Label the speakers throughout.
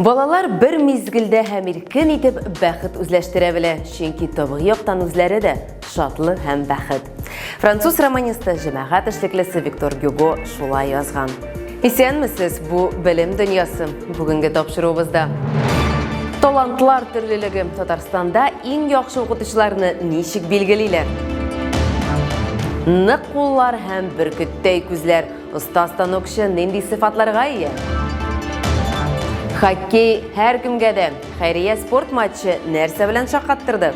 Speaker 1: Балалар бер мизгелдә һәм иркен итеп бәхет үзләштерә белә, чөнки табигый яктан үзләре дә шатлы һәм бәхет. Француз романисты, җәмәгать эшлеклесе Виктор Гюго шулай язган. Исәнмесез, бу белем дөньясы. Бүгенге тапшыруыбызда Талантлар төрлелеге Татарстанда иң яхшы укытучыларны ничек билгелиләр? Нык куллар һәм бөркеттәй күзләр Оста станокчы нинди сыйфатларга ия? Хоккей һәр кемгә дә. Хәйрия спорт матчы нәрсә белән шаккаттырды?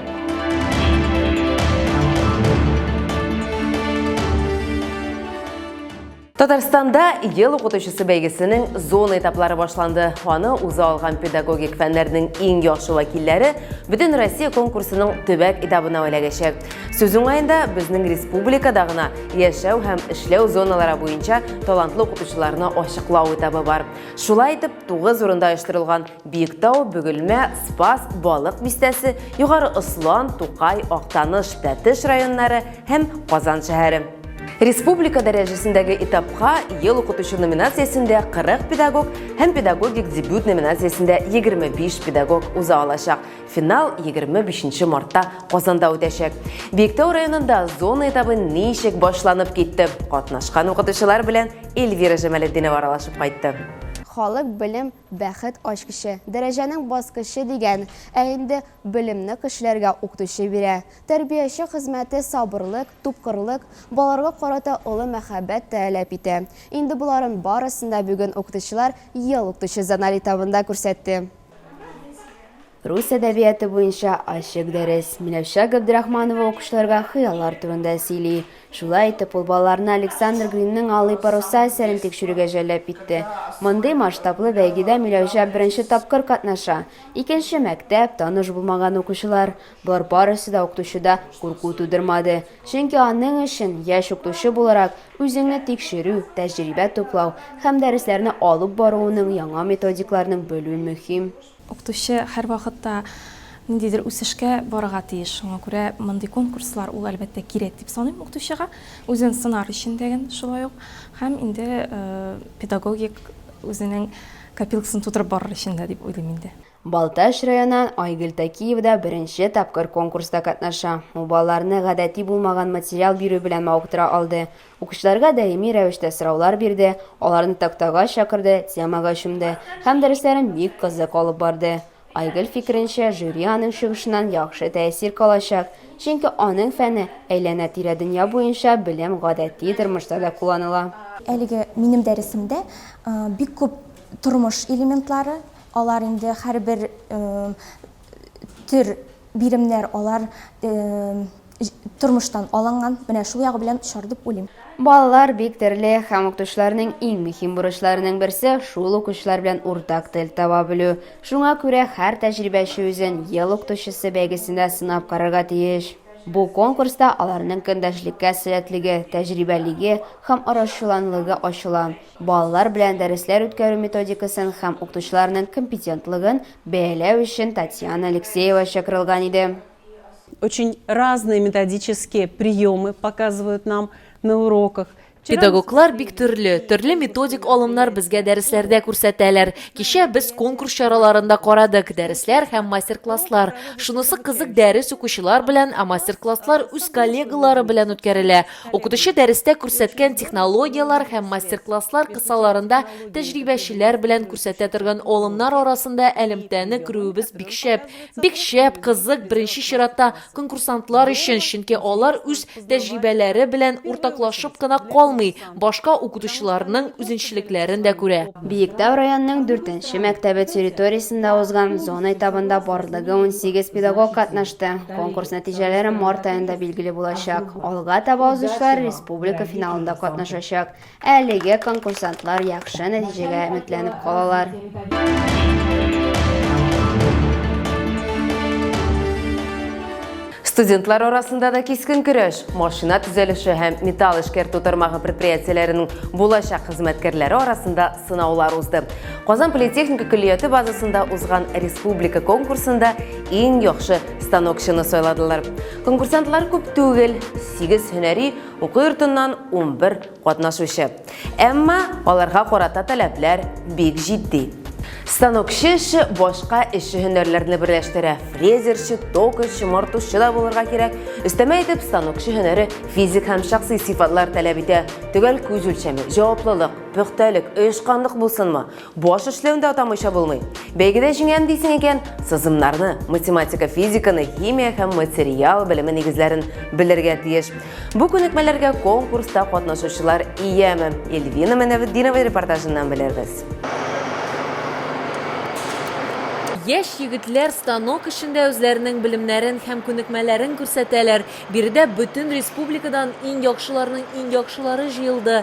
Speaker 1: Татарстанда ел укытучысы бәйгесенең зона этаплары башланды. Аны уза алган педагогик фәннәрнең иң яхшы вәкилләре бөтен Россия конкурсының төбәк этабына эләгәчәк. Сүз уңаенда безнең республикада гына яшәү һәм эшләү зоналары буенча талантлы укытучыларны ачыклау этабы бар. Шулай итеп, тугыз урында оештырылган Биектау, Бөгелмә, Спас, Балык бистәсе, Югары Ослан, Тукай, Актаныш, Тәтеш районнары һәм Казан шәһәре. Республика дәрәҗәсендәге этапка ел укытучы номинациясендә 40 педагог һәм педагогик дебют номинациясендә 25 педагог уза алачак. Финал 25 нче мартта Казанда үтәчәк. Биектау районында зона этабы ничек башланып китте? Катнашкан укытучылар белән Эльвира Җамалетдинова аралашып кайтты. Халык белем,
Speaker 2: бәхет ачкычы, дәрәҗәнең баскычы дигән, ә инде белемне кешеләргә укытучы бирә. Тәрбияче хезмәте сабырлык, тупкырлык, балаларга карата олы мәхәббәт тәәлап итә. Инде боларын барысын да бүген укытучылар Ел укытучы зональ этабында күрсәтте. Рус әдәбияты буенча ачык дәрес. Миләүшә Габдрахманова укучыларга хыяллар турында сөйли. Шулай итеп, ул балаларны Александр Гринның Алый паруса әсәрен тикшерүгә җәлләп итте. Мондый масштаблы бәйгедә Миләүшә беренче тапкыр катнаша. Икенче мәктәп, таныш булмаган укучылар. Болар барысы да укытучыда курку тудырмады. Чөнки аның өчен, яшь укытучы буларак, үзеңне тикшерү, тәҗрибә туплау һәм дәресләрне алып баруының яңа методикларның белү мөһим. Укытучы
Speaker 3: һәрвакытта ниндидер үсешкә барырга тиеш, шуңа күрә мондый конкурслар ул әлбәттә кирәк дип саныйм укытучыга, үзен сынар өчен дә гән шулай ук һәм инде педагогик үзенең копилкасын тутырып барыр өчен дә дип уйлыйм инде. Балтач районыннан
Speaker 2: Айгөл Тәкиева да беренче тапкыр конкурста катнаша. Ул балаларны гадәти булмаган материал бирү белән мавыктыра алды. Укучыларга даими рәвештә сораулар бирде, аларны тактага чакырды, темага чумды һәм дәресләрен бик кызык алып барды. Айгөл фикеренчә, жюри аның чыгышыннан яхшы тәэсир калачак, чөнки аның фәне, әйләнә-тирә дөнья буенча белем гадәти тормышта да кулланыла. Әлеге минем
Speaker 4: дәресемдә бик күп тормыш элементлары, Алар инде һәрбер төр биремнәр алар тормыштан алынган. Менә шул ягы белән очар дип уйлыйм. Балалар бик
Speaker 2: төрле һәм укытучыларның иң мөһим бурычларының берсе шул укучылар белән уртак тел таба белү. Шуңа күрә һәр тәҗрибәче үзен Ел укытучысы бәйгесендә сынап карарга тиеш. Бу конкурста аларның көндәшлеккә сәләтлеге, тәҗрибәлеге һәм арачуланлыгы ачыла. Балалар белән дәресләр үткәрү методикасын һәм укытучыларның компетентлыгын бәяләү өчен Татьяна Алексеева чакырылган иде. Очень
Speaker 5: разные методические приемы показывают нам на уроках. Педагоглар бик
Speaker 6: төрле, төрле методик алымнар безгә дәресләрдә күрсәтәләр. Кичә без конкурс чараларын да карадык, дәресләр һәм мастер-класслар. Шунысы кызык, дәрес укучылар белән, ә мастер-класслар үз коллегалары белән үткәрелә. Укытучы дәрестә күрсәткән технологияләр һәм мастер-класслар кысаларында тәҗрибәчеләр белән күрсәтә торган алымнар арасында әлемтәне күрүебез бик шәп. Бик шәп, кызык, беренче чиратта конкурсантлар өчен, чөнки алар үз тәҗрибәләре белән уртаклашып кына калмый, башка укытучыларның үзенчелекләрен дә күрә. Биектау районының
Speaker 2: дүртенче мәктәбе территориясендә узган зона этабында барлыгы унсигез педагог катнашты. Конкурс нәтиҗәләре март аенда билгеле булачак. Алга таба узучылар республика финалында катнашачак. Әлеге конкурсантлар яхшы нәтиҗәгә өметләнеп калалар.
Speaker 1: Студентлар арасында да кискен көрәш, машина төзелеше һәм металл эшкәртү тармагы предприятиеләренең булачак хезмәткәрләре арасында сынаулар узды. Казан политехника көллияте базасында узган республика конкурсында иң яхшы станокчыны сайладылар. Конкурсантлар күп түгел, 8 һөнәри уку йортыннан 11 катнашучы. Әмма аларга карата таләпләр бик җитди. Станокчы эше башка эшче һөнәрләрне берләштерә. Фрезерчы, токарьчы, мартучы да булырга кирәк. Өстәмә итеп, станокчы һөнәре физик һәм шәхси сыйфатлар таләп итә. Төгәл күз үлчәме, җаваплылык, пөхтәлек, оешканлык булсынмы? Баш эшләүен дә атамыйча булмый. Бәйгедә җиңәм дисең икән, сызымнарны, математика, физиканы, химия һәм материал белеме нигезләрен белергә тиеш. Бу күнекмәләргә конкурста катнашучылар ияме? Эльвина Мәнәветдинова репортажыннан белербез.
Speaker 6: Яшь егетләр станок эшендә үзләренең белемнәрен һәм күнекмәләрен күрсәтәләр. Биредә бөтен республикадан иң яхшыларның иң яхшылары җыелды.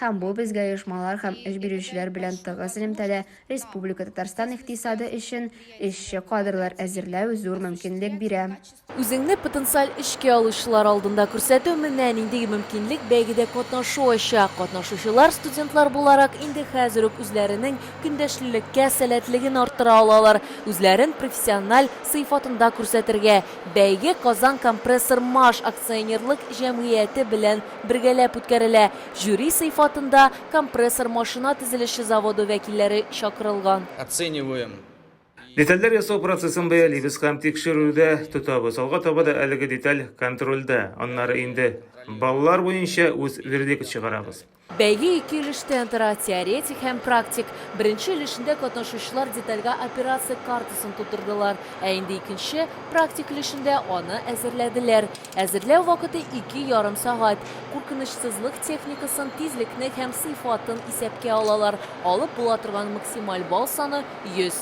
Speaker 2: Һәм бу безгә оешмалар һәм эш бирүчеләр белән тыгыз элемтәдә Республика Татарстан икътисады өчен эшче кадрлар әзерләү зур мөмкинлек бирә. Үзеңне потенциаль
Speaker 6: эшкә алучылар алдында күрсәтү менә нинди мөмкинлек бәйгедә катнашу ача. Катнашучылар студентлар буларак инде хәзер үк үзләренең көндәшлелеккә сәләтлеген арттыра алалар, үзләрен профессиональ сыйфатында күрсәтергә. Бәйге Казан компрессор-маш акционерлык җәмгыяте белән бергәләп үткәрелә. Жюри сыйфатында компрессор машина төзелеше заводы вәкилләре чакырылган. Оцениваем
Speaker 7: и. Детальләр
Speaker 8: ясау процессын бәялибез һәм тикшерүдә тотабыз. Алга таба да әлеге деталь контрольдә, аннары инде баллар буенча үз вердикт чыгарабыз. Бәйге ике
Speaker 6: өлештән тора, теоретик һәм практик. Беренче өлешендә катнашучылар детальгә операция картасын тутырдылар, ә инде икенче, практик өлешендә аны әзерләделәр. Әзерләү вакыты ике ярым сәгать. Куркынычсызлык техникасын, тизлекне һәм сыйфатын исәпкә алалар. Алып була торган максималь балл саны, 100.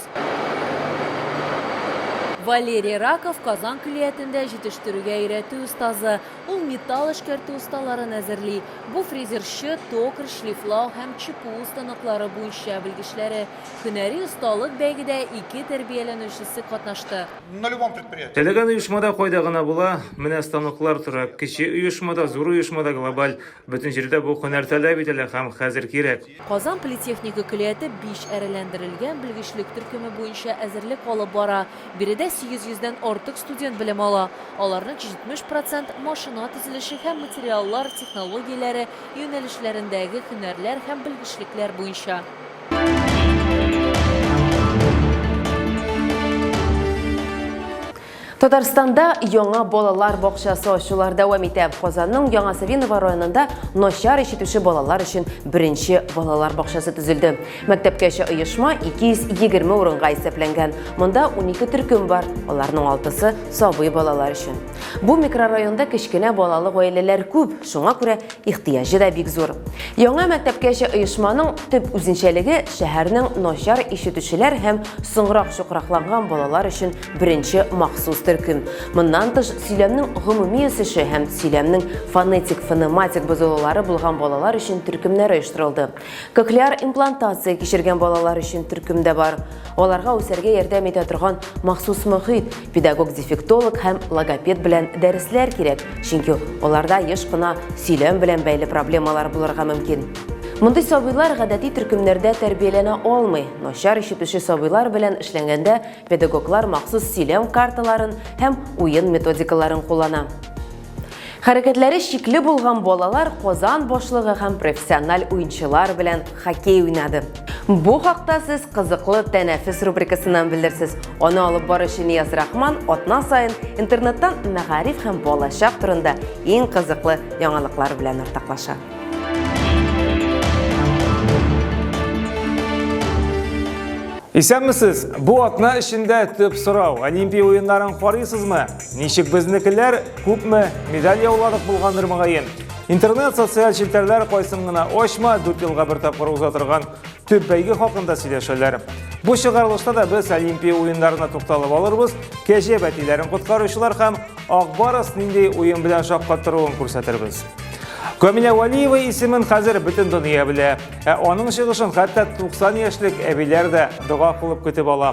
Speaker 6: Валерий Раков, Казан көллиятендә җитештерүгә өйрәтү остазы. Ул металл эшкәртү осталарын әзерли. Бу фрезерчы, токарь, шлифлау һәм чпу станоклары буенча белгечләре. Һөнәри осталык бәйгедә ике тәрбияләнүчесе катнашты. На любом предприятии.
Speaker 8: Теләгән оешмада кайда гына була, менә станоклар тора. Кече оешмада, зур оешмада глобаль, бөтен җирдә бу һөнәр таләп ителә һәм хәзер кирәк. Казан политехника
Speaker 6: көлияте биш әреләндерелгән белгечлек төркеме буенча әзерлек алып бара. Биредә 800 дән артык студент белем ала. Аларның 70 процент, машина төзелеше һәм материаллар технологияләре юнәлешләрендәге һөнәрләр һәм белгечлекләр буенча.
Speaker 1: Татарстанда яңа балалар бакчасы ачулар дәвам итә. Казанның Яңа Савиново районында начар ишетүче балалар өчен беренче балалар бакчасы төзелде. Мәктәпкәчә оешма 220 урынга исәпләнгән. Монда 12 төркем бар, аларның алтысы сабый балалар өчен. Бу микрорайонда кечкенә балалы гаиләләр күп, шуңа күрә Ихтыяҗы да бик зур. Яңа мәктәпкәчә оешманың төп үзенчәлеге шәһәрнең начар ишетүчеләр һәм соңрак чукракланган балалар өчен беренче махсус төркем. Моннан тыш, сөйләмнең гомуми үсеше һәм сөйләмнең фонетик-фонематик бозылулары булган балалар өчен төркемнәр оештырылды. Кохлеар имплантация кичергән балалар өчен төркем дә бар. Аларга үсәргә ярдәм итә торган махсус мөхит, педагог-дефектолог һәм логопед белән дәресләр кирәк, чөнки аларда еш кына сөйләм белән бәйле проблемалар булырга мөмкин. Мондый сабыйлар гадәти төркемнәрдә тәрбияләнә алмый. Начар ишетүче сабыйлар белән эшләнгәндә педагоглар махсус сөйләм карталарын һәм уен методикаларын куллана. Хәрәкәтләре шикле булган балалар Казан башлыгы һәм профессиональ уенчылар белән хоккей уйнады. Бу хакта сез кызыклы тәнәфес рубрикасыннан белерсез. Аны алып баручы Нияз Рахман атна саен интернеттан мәгариф һәм балачак турында иң кызыклы яңалыклар белән уртаклаша.
Speaker 8: Исәнмесез! Бу атна эчендә төп сорау, Олимпия уеннарын карыйсызмы? Ничек безнекеләр, күпме медаль яуладык булгандыр мөгаен. Интернет, социаль челтәрләр кайсын гына ачма, дүрт елга бер тапкыр уза торган төп бәйге хакында сөйләшәләр. Бу чыгарылышта да без Олимпия уеннарына тукталып алырбыз, кәҗә бәтиләрен коткаручылар һәм Акбарыс нинди уен белән шаккаттыруын күрсәтербез. Камилә Валиева исемен хәзер бөтен дөнья белә. Ә аның чыгышын хәтта 90 яшьлек әбиләр дә дога кылып көтеп ала.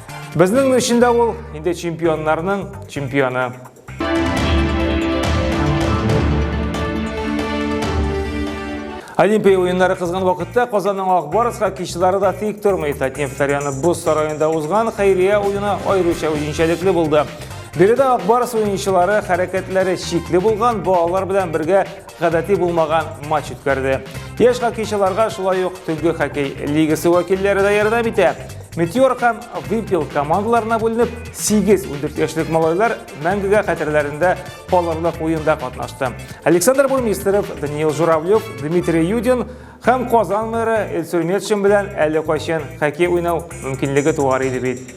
Speaker 8: Безнең өчен дә ул инде чемпионнарның чемпионы. Олимпия уеннары кызган вакытта Казанның Акбарыс хоккейчылары да тик тормый. Татнефть арена боз сараенда узган хәйрия уены аеруча үзенчәлекле булды. Биредә Акбарыс уенчылары хәрәкәтләре шикле булган балалар белән бергә гадәти булмаган матч үткәрде. Яшь хоккейчыларга шулай ук Төнге хоккей лигасы вәкилләре дә ярдәм итә. Метеор һәм Вимпел командаларына бүленеп, 8 ундүрт яшьлек малайлар мәңгегә хәтерләрендә калырлык уенда катнашты. Александр Бурмистеров, Даниил Журавлев, Дмитрий Юдин һәм Казан мэры Эльсур Метшин белән әле кайчан хоккей уйнау мөмкинлеге туар иде бит.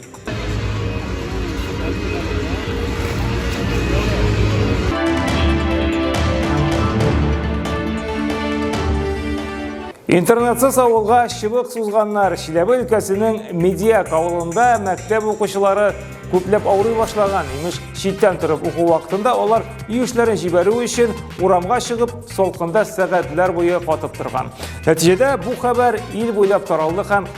Speaker 8: Интернетсыз авылга чыбык сузганнар. Чиләбе өлкәсенең Медиак авылында мәктәп укучылары күпләп авырый башлаган. Имеш, читтән торып уку вакытында алар үй эшләрен җибәрү өчен урамга чыгып, солкында сәгатьләр буе катып торган. Нәтиҗәдә бу хәбәр ил буйлап таралды һәм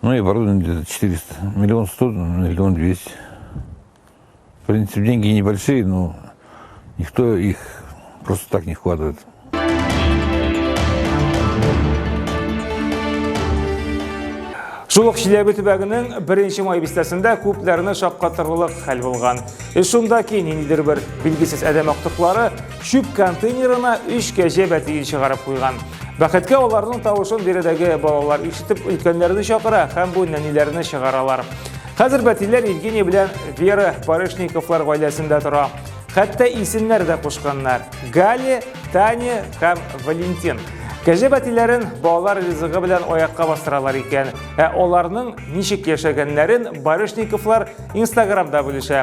Speaker 7: Ну и оборудование где-то 400, миллион сто, миллион двести. В принципе, деньги небольшие, но никто их просто так не вкладывает.
Speaker 8: Шул ук Чиләбе төбәгенең беренче май бистәсендә күпләрне шаккатырлык хәл булган. Эш шунда ки, ниндидер бер билгесез адәм актыклары Чүп контейнерына өч кәҗә бәтиен чыгарып куйган. Бәхеткә аларның тавышын биредәге балалар ишетеп өлкәннәрне чакыра һәм бу нәниләрне чыгаралар. Хәзер бәтиләр Евгений белән Вера Барышниковлар гаиләсендә тора. Хәтта исемнәр дә кушканнар. Гали, Таня һәм Валентин. Кәҗә бәтиләрен балалар ризыгы белән аякка бастыралар икән. Ә аларның ничек яшәгәннәрен Барышниковлар Инстаграмда бүлешә.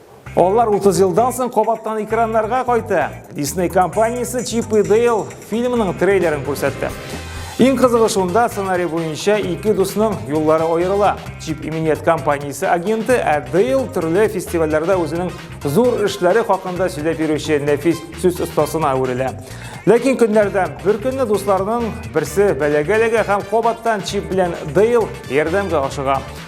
Speaker 8: Алар 30 елдан соң кабаттан экраннарга кайта. Disney компаниясе Чип и Дейл фильмының трейлерын күрсәтте. Иң кызыгы шунда сценарий буенча ике дусның юллары аерыла. Чип иминият компаниясе агенты, ә Дейл төрле фестивальләрдә үзенең зур эшләре хакында сөйләп йөрүче нәфис сүз остасына әверелә. Ләкин көннәрдә бер көнне дусларның берсе бәләгә эләгә һәм кабаттан Чип белән Дейл ярдәмгә ашыга.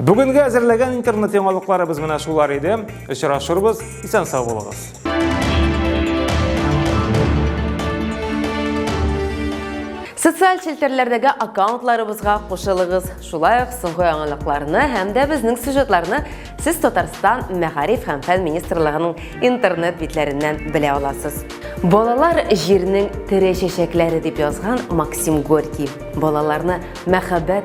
Speaker 8: Бүгенге әзерләгән интернет яңалыкларыбыз менә шулар иде. Очрашырбыз, исән сау булыгыз.
Speaker 1: Социаль челтәрләрдәге аккаунтларыбызга кушылыгыз. Шулай ук соңгы яңалыкларны һәм дә безнең сюжетларны сез Татарстан мәгариф һәм фән министрлыгының интернет битләреннән белә аласыз. Балалар җирнең тере чәчәкләре дип язган Максим Горький. Балаларны мәхәббәт,